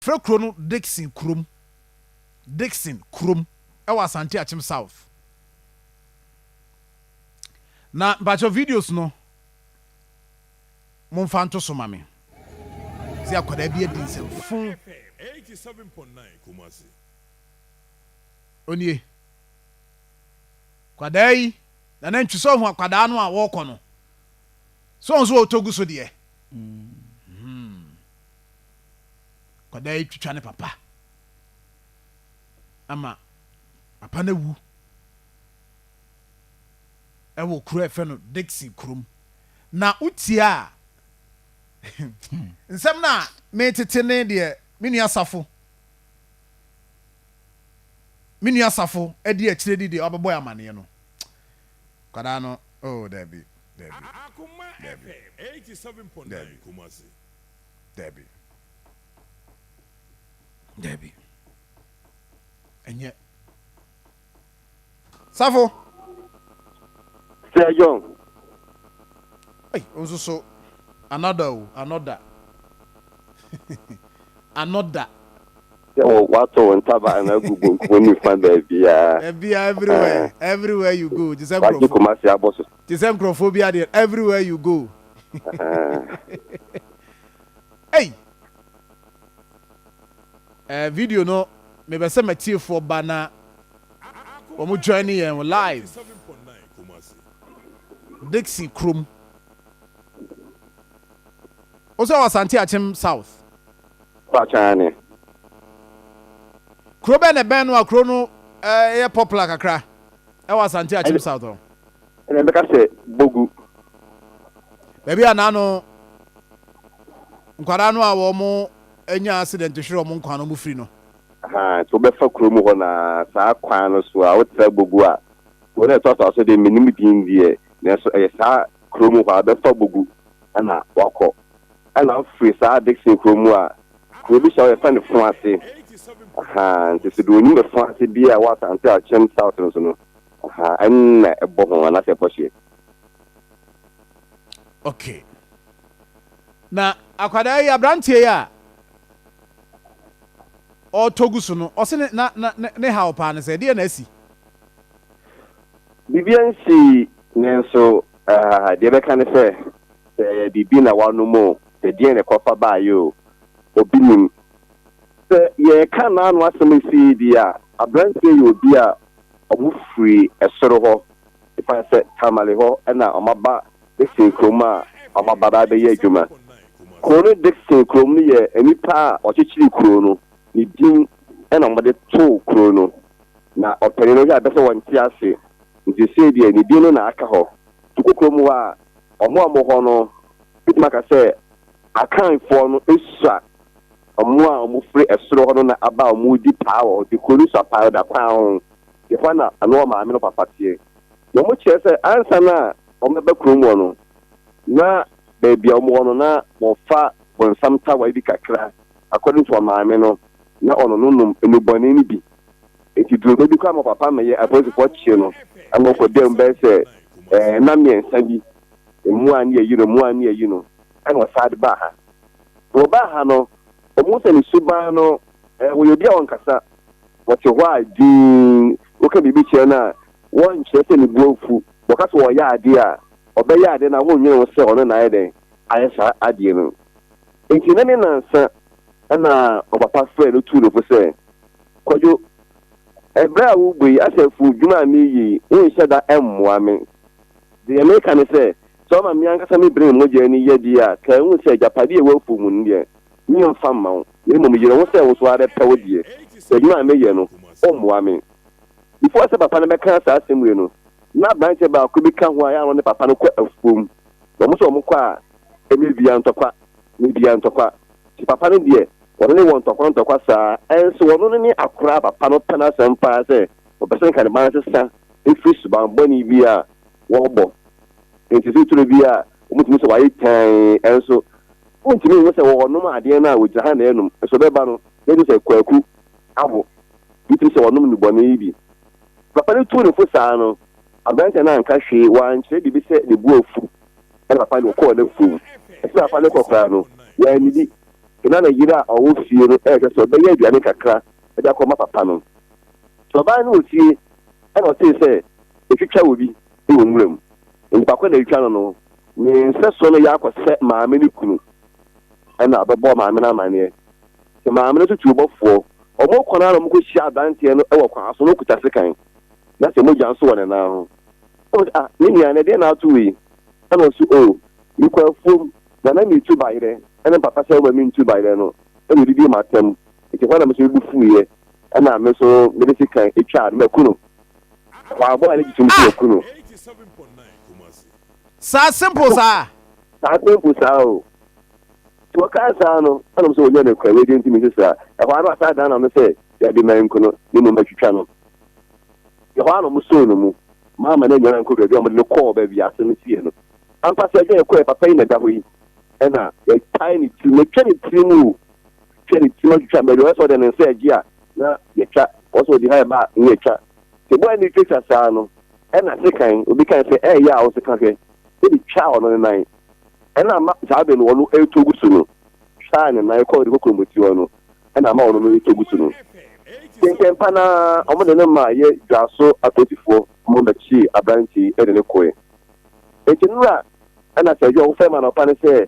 Frɛ kuro no Dickson Kurom. Dickson Kurom ɛwɔ Asante Akyem South. Na mpakyɛw videos no mo nfa nto so ma me. Se akwadaa bi adi nsɛm fun. Onie. Kwadaa yi, Nana Ntwi sɛ ɔhu akwadaa no a wɔɔkɔ no? Sɛ ɔhu so ɔɔtɔ gu so deɛ? Hmm. Akwadaa yi twitwa ne papa ama papa no awu ɛwɔ kuro a ɛfɛ no Dixon kurom na wotia a nsɛm no a metete ne deɛ me nua asafo me nua asafo adi akyire di deɛ ɔbɛbɔ amaneɛ no kwadaa no oh dabi dabi dabi dabi Dabi. Dabi. Ɛnyɛ. Safo. Sir John. Hey, nso so another o oh, another another. Sɛ wɔ wato wɔn taba ana agu bonkum nifa baabi a. Ɛbi a everywhere eh. everywhere you go jisɛ nkurɔfo. Wagye kumasi abɔ so. Te sɛ nkurɔfoɔ bi adeɛ everywhere you go. Ei! Eh, video no mebɛ sɛ matiefoɔ ba na wɔn join ne yɛn live. Dixie Krom. Wo sɛ wɔ Asante Akyem South? Pakyane. Kuro bɛn na ɛbɛn no a kuro no eh, yɛ popular kakra ɛwɔ Asante Akyem South hɔ? Ɛna ɛbɛka sɛ, Bɔ gu! Baabi a na ano nkwadaa no a wɔanya accident hwere wɔn nkwa no firi no. Ahaa, nti wobɛfa kuro mu hɔ no ara saa kwan no so a wotra Bogu a, kuro no a ɛtoa so a so deɛ mennim din deɛ, nanso ɛyɛ saa kuro mu hɔ a, wobɛfa Bogu ɛna woakɔ. Ɛna wofiri saa Dickson kuro mu a, kuro bi hyɛ hɔ yɛfrɛ no Foase. Ahaa, nti so deɛ ɔnim Foase biara wɔ Asante Akyem South no so no, Aha ɛna ɛbɔ ho anaasɛ ɛbɔ hyeɛ. Ok na akwadaa yi abranteɛ yi a ɔɔtɔ gu so no ɔse ne na na ne haw paa ne sɛ ɛdeɛ na asi. Biribiara nsi nanso ah deɛ bɛka ne sɛ sɛ biribi na wanom oo sɛ deɛn na ɛkɔfa baeɛ oo obi nim. Sɛ yɛɛka naano asɛm ɛsi yɛ bi a abranteɛ yɛ obi a Wɔfirii soro hɔ, ɛsiane sɛ Tamale hɔ na wɔaba Dickson kurom a wɔaba abɛyɛ adwuma. Kuro no Dickson kurom no yɛ nnipa a wɔkyekyeree kuro no ne din na wɔde too kuro no. Na ɔpanin no hwɛ a ɛbɛyɛ sɛ ɔnte ase, nti seesei deɛ ne din no na aka hɔ. Kokokurom hɔ a, wɔn a wɔwɔ hɔ no, mɛtumi aka sɛ Akanfoɔ no sua Wɔn a wɔfiri ɛsoro hɔ no na aba a wɔredi paa wɔ hɔ, de kuro no so apaeɔda kwan ho. Ɛhɔ na ɔne wɔn maame no papa teɛ. Na wɔkyerɛ sɛ ansa na wɔbɛba kurom hɔ no, na baabi a wɔwɔ no, na wɔfa bonsam tawae bi kakra, according to wɔn maame no, na ɔno no nom nnubɔne no bi. Enti duru bɛ bi koraa ma papa no yɛ apolisifoɔ kyee no ma ɔkɔdaa mu bɛyɛ sɛ nna mmiɛnsa bi. Mmoa ne ayi no, mmoa ne ayi no. na wɔsan de baa ha. Sɛ wɔbaa ha no, wɔhu sɛ ne suban no, wɔyɛ obi a ɔnkasa, wɔte hɔ a dinn, woka biribi kyerɛ no a, wɔnkyerɛ sɛ ne bo afu, wɔka sɛ ɔreyɛ adeɛ a, ɔbɛyɛ adeɛ no a wonnwene ho sɛ ɔno na ayɛ dɛn ayɛ saa adeɛ no. Enti nnɛ ne nnansa na ɔpapa frɛɛ no tuu no fo sɛ, Kwadwo, ɛberɛ a worebɔ yi, asafo dwuma a mereyɛ yi, wonhyɛ da mmoa me. Deɛ mereka ne sɛ, Sɛ ɔma me ankasa me bere ne mogya ani yɛ de a, kae hu sɛ agyapade a ɛwɔ afuw mu no deɛ, meremfa mma wo, na mmom yere ho sɛ wo nso wobɛpɛ wo deɛ, sɛ adwuma a meyɛ no, woremmoa me. Before sɛ papa no bɛka saa asɛm wei no, na aberanteɛ baako bi ka ho a ɛyɛ a na ɔne papa no kɔ afuom, na wɔn nso wɔkɔ a, ɛnyɛ bia ntɔkwa, nyɛ bia ntɔkwa. Nti papa no deɛ, ɔno ne wɔ ntɔkwa ntɔkwa saa, ɛnso ɔno no ne akora a papa no pɛ n'asɛm paa sɛ ɔpɛ sɛ nka ne ba no sesa firi subammɔne bi a wɔbɔ. Enti titire bi a wɔtumi sɛ wɔayɛ tann nso, wontumi nhu sɛ wɔnom adeɛ no a wɔgyina ha na ɛrenom nso ɛbɛba no bɛhu sɛ kwaku awo. Wotumi sɛ wɔnom nnubɔne yi bi. Papa no tuu no fo saa no, aberanteɛ no anka hwee, wankyerɛ biribi sɛ ne bo afu. Ɛnna papa no kɔɔ n'afuom. Akyiri a papa no kɔ koraa no, wannidi. Afei na ne yere a ɔwɔ fie no rehwɛ sɛ ɔbɛyɛ aduane kakra de akɔma papa no. Ɔbaa no wɔ fie, ɛnna ɔtee sɛ Wɔtwitwa obi wɔ nwura mu. Nnipa korɔ na ɛretwa no no, ne nsɛsoɔ no yɛ akɔsɛ maame no kunu na ɔbɛbɔ maame no amaneɛ. Sɛ maame no nso tu ɔbɔfoɔ, wɔkɔ no ara na wɔkɔhyia aberanteɛ no wɔ kwan so na ɔkuta sekan, na sɛ mogya nso wɔ ne nan ho. Ɔka sɛ, Ah, me nua, na ɛdeɛn na ato wo yi? Ɛna ɔse, O, mekɔ afuom, na na meretu bayerɛ, ɛna mpapa sɛ woma mentu bayerɛ no, ɛna ɔdidie m'atɛm, enti ɛhɔ na me nso mebu fuiɛ, ɛna me nso mede sekan twaa no maku no. Waabɔ a ne gye so me so maku no. Saa simple saa. Saa simple saa o. Nti wɔkaa saa no ɛna mo sɛ wɔnya no kura wɛdi nti me nso saa. Ɛhɔ ara na wasan dan na no sɛ dabi ma nku no ne mmom atwitwa no. Ɛhɔ ara na wɔn soo no mu. Maama no anyara nkɔ baabi a wɔde no kɔɔ baabi a asɛm no sii no. Ampa sɛ ɛdwa yɛkɔɛ papa yi na ɛda hɔ yi ɛna yɛtae ne tiri metwa ne tiri mu o. Hwɛ ne tsir ɔtwitwa baabi a ɔyɛ sɛ ɔdze ne nsa regye a na yɛtwa, ɔyɛ sɛ ɔdze hɛn ba a na yɛtwa. Tse bɔ a nna itwatwa saa no, nna sekan, obi kae sɛ, ɛyɛ yaw a wo sekan hwɛ, ede twaa ɔno ne nan. Nna ama saa aber no ɔno retɔ gu so no, twaa ne nan kɔr ne kokromoti hɔ no, nna ama ɔno no retɔ gu so no. Ntsɛntsɛmpa no ara wɔde no maa yɛ dwaso apolisifoɔ ma wɔbɛkyee aberantsɛ yi de no kɔe. Ntsi no na nna sɛ adwuma a wɔfrɛ me anɔpa ne sɛ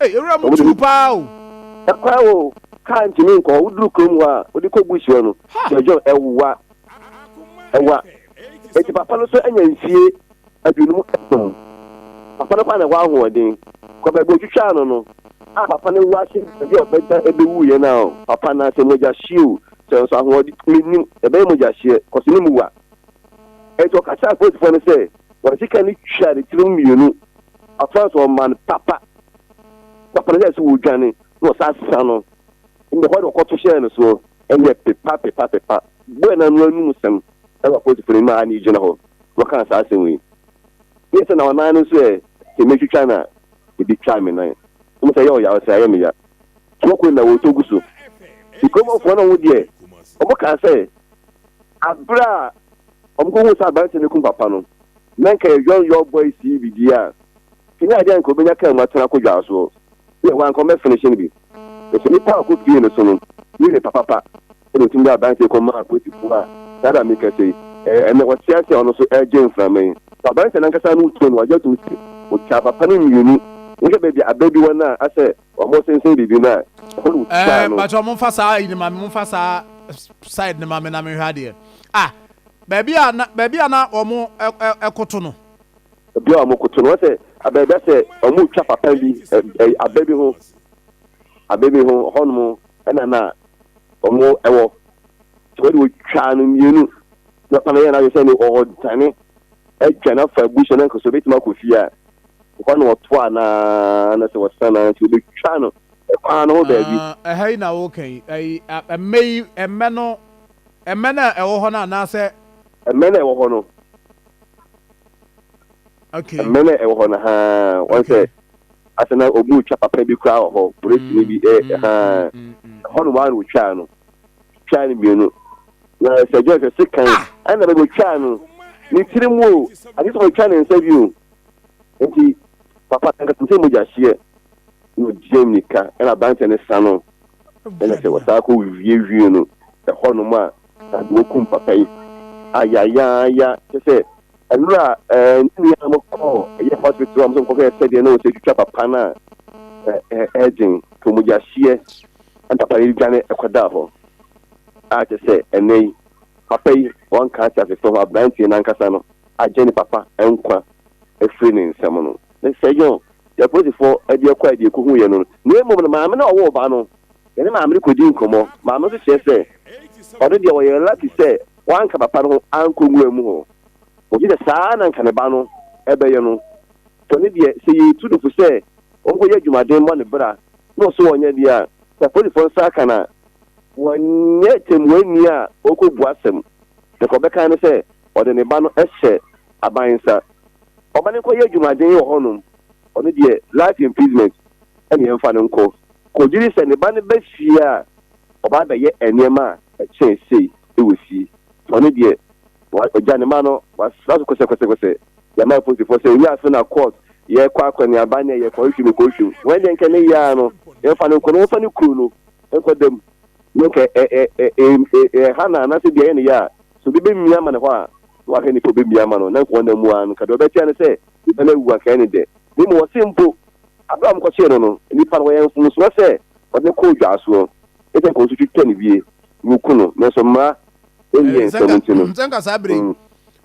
Ei, ewura mu tuu paa o! Ɛkwan o, kaa ntumi nkɔ hɔ. Woduru kurom hɔ a, wode kɔ bush hɔ no, John, ɛwowa. Ɛwowa. Enti papa no nso anya mfie aduonum nson. Papa no kɔ a na ɛhɔ ahoɔden. Kɔ baabi a otwitwaa no no, a papa no wu ase baabi a ɔbɛda ebewu yɛ no a, papa no ase mogya hye o, sɛ nso ahoɔden mennim, ɛbɛyɛ mogya hyeɛ, kɔ so ne mu wa. Enti ɔka kyerɛɛ apolisifoɔ no sɛ wɔn sika no twa ne tirim mmienu Ɔfaa so ɔman papa papa no hyɛɛ sɛ wɔdwane na wɔsan sesa no ɛnna hɔ na wɔkɔto hyɛɛ no soɔ ɛnna pepa pepa pepa bɔɔ no ano anum sɛm ɛwɔ apolisifoɔ no anim a na ɛgyina hɔ na wɔkaa saa asɛm wei yɛ sɛ na wɔn nan no nso ɛ sɛ mɛtwitwa no a ebi twaa me nan wɔn sɛ yɛ ɔya ɔsɛ ayɛ me ya so wɔkɔ nyinaa wɔtɔ gu so nkurɔfoɔ no wɔn deɛ wɔn kaa sɛ abere a wɔn kɔhu sɛ aberanteɛ no kum papa no Na nka yɛ John York Boys sii biribiaa a, sini adeɛ a nka ɔbɛnya kaa mu atena kɔ dwaa soɔ. Dear wɔ anka ɔmmɛ finish no bi. Nanso nnipa a ɔkɔ pie no so no, wei ne papapa ɛna ɔtumi de aberanteɛ kɔ maa apolisifoɔ a saa berɛ a mekasa yi, ɛnɛ ɔte ase a ɔno nso ɛregye mframa yi. Fa aberanteɛ no ankasa no too no agye atom sɛ ɔtwaa papa no mmienu. Wohwɛ baabi a aba bi wɔ no a, asɛ wɔsensɛn biribi no a, ɛhɔ na ɔtwaa no. Mpakyɛw momfa saa ayi no ma me, momfa saa side no ma me na menhwɛ adeɛ. Ah! Baabi a na baabi a na wɔkoto no. Baabi a wɔkoto no. Wɔn sɛ abɛn bɛ sɛ wɔretwa papa bi ɛ abɛ bi ho abɛ bi ho hɔnom ɛna na wɔn ɛwɔ sɛ wɔde wɔtwaa no mmienu na papa no yɛ n'adwene sɛ ne ɔredane adwa no afa abusua no nkoso bɛtumi akɔ fie a ɛhɔ na wɔto a na na sɛ wɔsan na nti wɔbɛtwa no ɛkwan no ho baabi. Ɛha yi na wɔka yi ɛyi mmɛ yi mmɛ no Mmɛn a ɛwɔ hɔ no anaasɛ. Mmɛn a ɛwɔ hɔ no. Okay. Mmɛn a ɛwɔ hɔ no haa wɔn sɛ asɛ na obi otwa papa bi koraa wɔ hɔ polisini bi ɛ mm, haa mm, mm, mm, ɛhɔ no waa na otwaa no twaa no mmienu na sɛ John sɛ se kan ɛna bɛbi otwaa no ne tiri mu o ade sɛ otwa ne nsa bi o nti papa nkasa sɛ mogya hyeɛ na ogyam nika ɛna aberanteɛ no sa no ɛna sɛ wɔsan kɔ wiewie no ɛhɔnom a na de wɔkum papa yi ayayaaya kyɛ sɛ ɛnora ɛɛ ne nua mo kɔ ɛyɛ hospital a mo sɛ nkɔkɔ yɛ sɛdeɛ na wɔsɛ twitwa papa no a ɛɛgyen to mogya hyeɛ ɛna papa yi dwane ɛkɔdaa hɔ a kyɛ sɛ ɛnɛ yi papa yi wɔnka ate asefo ho aberanteɛ no ankasa no agye ne papa nkwa ɛfiri ne nsɛm no nsɛ John, deɛ apolisifoɔ de kɔe de kɔhuiɛ no, na mmom no maame no a ɔwoo ba no. Yɛne maame no kɔdii nkɔmmɔ. Maame no nso kyerɛ sɛ ɔno deɛ ɔyɛɛ lucky sɛ wanka papa no ho ankɔ nwura mu hɔ. Ɔgye sɛ saa ara na anka ne ba no bɛyɛ no. Sɛ ɔno deɛ, sɛ yɛretu no fo sɛ ɔnkɔyɛ adwumaden mmɔ ne bra na ɔso ɔnyɛ deɛ a, sɛ apolisifoɔ nsa aka no a, wɔnyɛ tɛmmuani a ɔkɔbu asɛm, na deɛ ɔbɛka ne sɛ ɔde ne ba no hyɛ aban nsa. ɔma no nkɔyɛ adwumaden wɔ hɔnom, ɔno deɛ life imprisonment na yɛmfa no nkɔ, kɔgye di sɛ ne ba no ba fie a, ɔba abɛyɛ nneɛma a ɛkyɛn sei wɔ fie, ɔno deɛ ɔgya ne mma no, wasra so kɔsɛkɔsɛkɔsɛ, yɛama apolisifoɔ sɛ owia afe na court, yɛkɔ akɔneaba ne ɛyɛ kɔhwehwɛ mu kɔhwehwɛ mu, wei deɛ nka ne yea no yɛmfa no nkɔ na yɛmfa no kuro no nkɔ da mu, na nka ɛha na anaasɛ bia yɛ ne yɛ a, sɛ obi bɛmia ma no hɔ a, Na ɔahwɛ nyimpa a obemia ama no, na nka ɔnam mu ara no, nka dɛ ɔbɛtse ano sɛ nyimpa no ewu anka ene dɛ. Na mbom ɔse mpo, aber a wɔkɔkyee no no, nyimpa no wɔyɛɛ mfomsoɔ sɛ wɔdze no kɔɔ dwaasoɔ, ne sɛ nka wɔnso twitwa no wie, na wɔku no, nanso mmara nnyɛɛ nsɛm nti no. Sɛ nka saa bere yi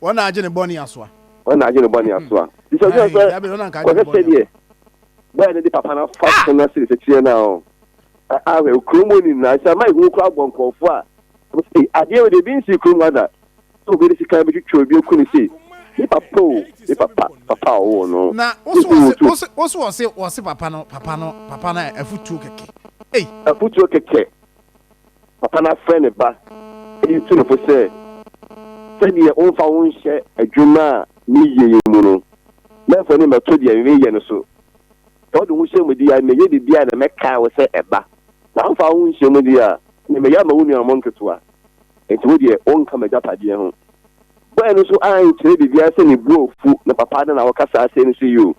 wɔn na agye ne bɔne asoa. Wɔn na agye ne bɔne asoa. Nti sɛ ɔhwɛ sɛ ɔhwɛ sɛdeɛ bɔyɛ no de papa no afa so no ase nsekyerɛ no a, ahwɛ kurom hɔ nyinaa, nhyɛmma ehu koraa bɔ nkurɔfoɔ a, wɔsɛ ei, adeɛ wei deɛ ebi nsii kurom ha da, sɛ obi de sekan betwitwa obi aku no sei, me papa o, me papa, papa a ɔwoo no, Na wo se wɔse, wo se, wo se wɔse, wɔse papa no, papa no, papa no a afutuo kɛkɛ, ei. Afutuo kɛkɛ, papa no afrɛ ne ba, eyi tu no fo sɛ, sɛdeɛ womfa wo nhyɛ adwuma a meyɛ yi mu no, mɛmfa w'ani mmɛto deɛ mereyɛ no so, sɛ wode wo hyɛ mu deɛ a, mɛyɛ biribiara na mɛkae wo sɛ ɛba, na womfa wo ho nhyɛ mu deɛ a, na mɛyɛ ama wo nuanom nketewa. Enti wo deɛ, wonka m'agyapadeɛ ho. Bɔe no nso ankyerɛ biribiara sɛ ne bo afu, na papa ada na ɔkasaa sei no so yi o.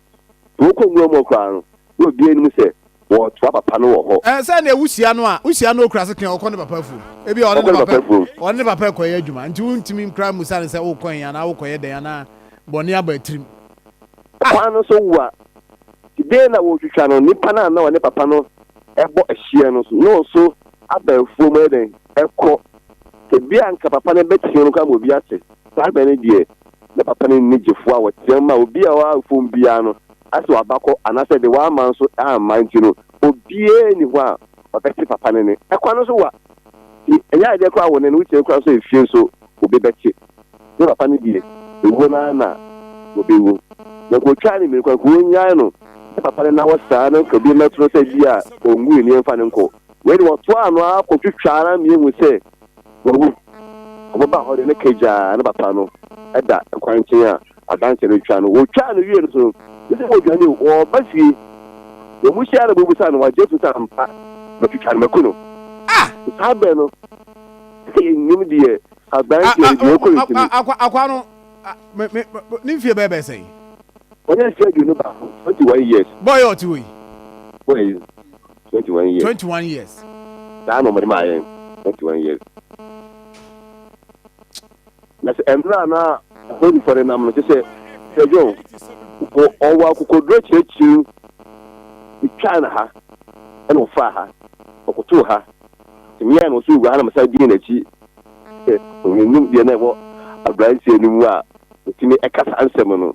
Sɛ wɔkɔ nwura mu hɔ koraa no, na obiara nnim sɛ wɔretoa papa no wɔ hɔ. Sɛ nea wuhyia no a, wuhyia no a okura sekan a, ɔkɔ ne papa afuom. Ebia ɔne ne papa rekɔyɛ adwuma, enti wuntumi nkora mmisa no sɛ worekɔ he anaa worekɔyɛ dɛn anaa bɔne aba tirim. Ɔkwan no so wo a, ti dɛn na woretwitwa no? Nnipa no a na ɔne papa no bɔ hyeɛ no nso, na wɔn nso abɛɛfoɔ mu ɛdɛn ɛkɔ tebea nka papa no bɛteam koraa ma obi ate saa bɛ no deɛ na papa no nni gyefoɔ a wɔteam ma obi a ɔwɔ fam biara no asɛ wabakɔ anaasɛ de wama nso amma nti no obiara nni hɔ a ɔbɛte papa no ne ɛkwan no so wa ti ɛnyɛ adeɛ koraa wɔ ne no wotia koraa nso efie nso obi bɛte ne papa no deɛ ewuo no ara na wɔbɛwu na nka ɔtwaa ne mmienu kwan nka wɔnyae no ne papa no na wɔ saa no nka obi mmɛto no sɛ bi a ɔngu nneɛmfa no nkɔ Wei de, wɔtoaa ano ara kɔtwitwaa ara ma yɛhu sɛ wawu. Wɔbɛbaa hɔ de, na kagyaa ne papa no da kwankyɛn a adanseɛ no retwa no. Wɔtwaa no wiee no nso no, gye sɛ wɔdwane o, wɔba fie. Wɔn mu hyia ara na wɔbɛbisa no, wagye atum sɛ, Ampa, matwitwa no, maku no. Te saa berɛ no, sɛ yɛnnim deɛ aberanteɛ no deɛ ɔkɔɔ n'akyi no. Akwaa no, ne mfeɛ bɛyɛ bɛyɛ sɛn? Ɔnyɛ mfeɛ aduonu baako, twenty one years. Bɔɔ yi a ɔte hɔ yi? Bɔɔ yi. twenty one years. twenty one years. saa na wɔde maa yɛn twenty one years. na sɛ mmerɛ a na holyfoɔ no nam no kyɛ sɛ sɛ john wɔ ɔwɔ akokoduro kyerɛkyerɛm twaa no ha ɛna ɔfaa ha ɔkotoo ha nti meɛ na ɔso ɔwura ha na mesa dii n'akyi sɛ ɔnim deɛ na ɛwɔ aberanteɛ no mu a ɔtumi ɛka saa nsɛm no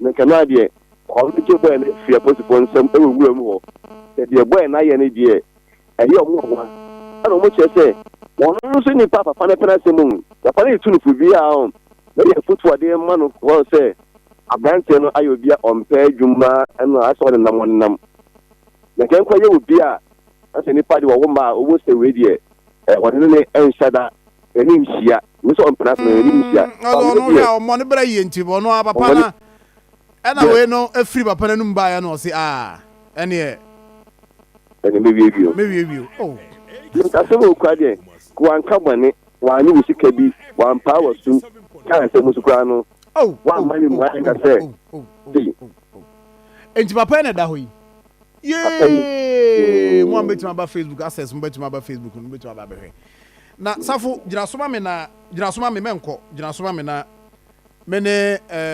Na nka no ara deɛ, ɔno gye bɔɛ no firi apolisifoɔ nsam wɔ nwura mu hɔ. Na deɛ bɔɛ no ayɛ no deɛ, ɛyɛ wɔn nwanwa. Ɛna wɔkyerɛ sɛ, wɔn nso nnipa papa no pɛ n'asɛm o, papa no retu no fo biara o, na yɛ afotuo a wɔde rema no wɔ hɔ no sɛ, aberanteɛ no ayɛ obi a ɔmpɛ adwuma na ayɛ sɛ ɔnenam ɔnenam. Na nka nkwa yɛ obi a, na sɛ nnipa deɛ wɔwo mma a, wɔhu sɛ wei deɛ, wɔne no nhyɛ da. Yɛne no hyia. Ɔno nso ɔmpene ase na yɛne no hyia. Mm, ɔno ɔno hwɛ a ɔmmɔ ne bra yie nti ɔno a papa na ɛna wei no afiri papa n'anum baeɛ no ɔse a ɛneɛ ɛne mewie bio mewie bio oh asɛm a ɔkura deɛ wanka bɔne wanye wo sika bi wampaa wɔ sum ka nsɛm so koraa no wamma ne mmuaeɛ ka sɛ nti papa na ɛda hɔ yi yee mo a mobɛtumi aba facebook access mobɛtumi aba facebook no mobɛtumi aba bɛhwɛ Na safo, gyina so ma me na, gyina so ma me mɛnkɔ, gyina so ma me na me ne, eh.